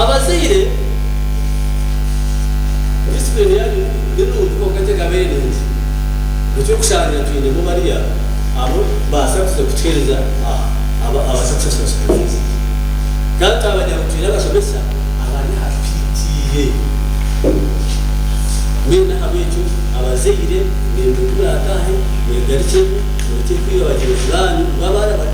Abazaire, Disipurine yaayo ni nungi kwonka tekabaire nungi. Eky'okushangira twinemu bariya abu baasa kuza kutuheereza aha ababaasa kushashura sikaru ezi. Kandi twabagira ngu twine abashomesa abari aha twitiire. Mbwenu ahabw'ekyo abazaire, ninduga obu naataahe, mwegarukyeho, murekye kwiba bagyenzi baanyu ngu abaana bari.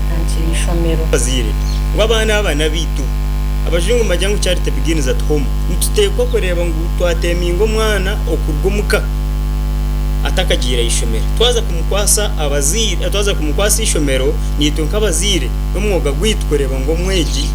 Omuhangi w'eishomero. Abazaire, ngu abaana aba n'abaitu. Abajungu nibagira ngu charity begins at home. Nituteekwa kureeba ngu twateeminga omwana okuruga omu ka atakagiire aha ishomero. Twaza kumukwasa abazaire, twaza kumukwasa eishomero, naitwe nk'abazaire n'omwoga gwaitu kureeba ngu omwegi,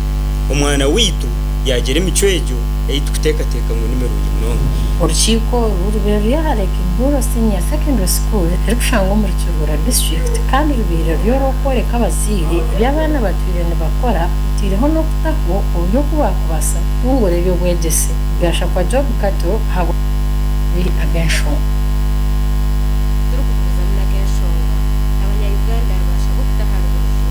omwana waitu yaagira emicwe egyo ei turikuteekateeka ngu ni mirungi munonga. Orukiiko oru rubaire ruri aha Lake Buhoro Senior Secondary School erikushangwa omuri. Kibura District kandi rubaire ruri orw'okworeka abazaire ebi abaana batwire nibakora otaireho n'okutaho oburyo oku baakubaasa kutunguura eby'obwegyese bya Shakwa Job Kato ahabw'amababi ag'enshonga. Turikugumizamu n'ag'enshonga, abanya Uganda baashabwa okutaha aha rubaju.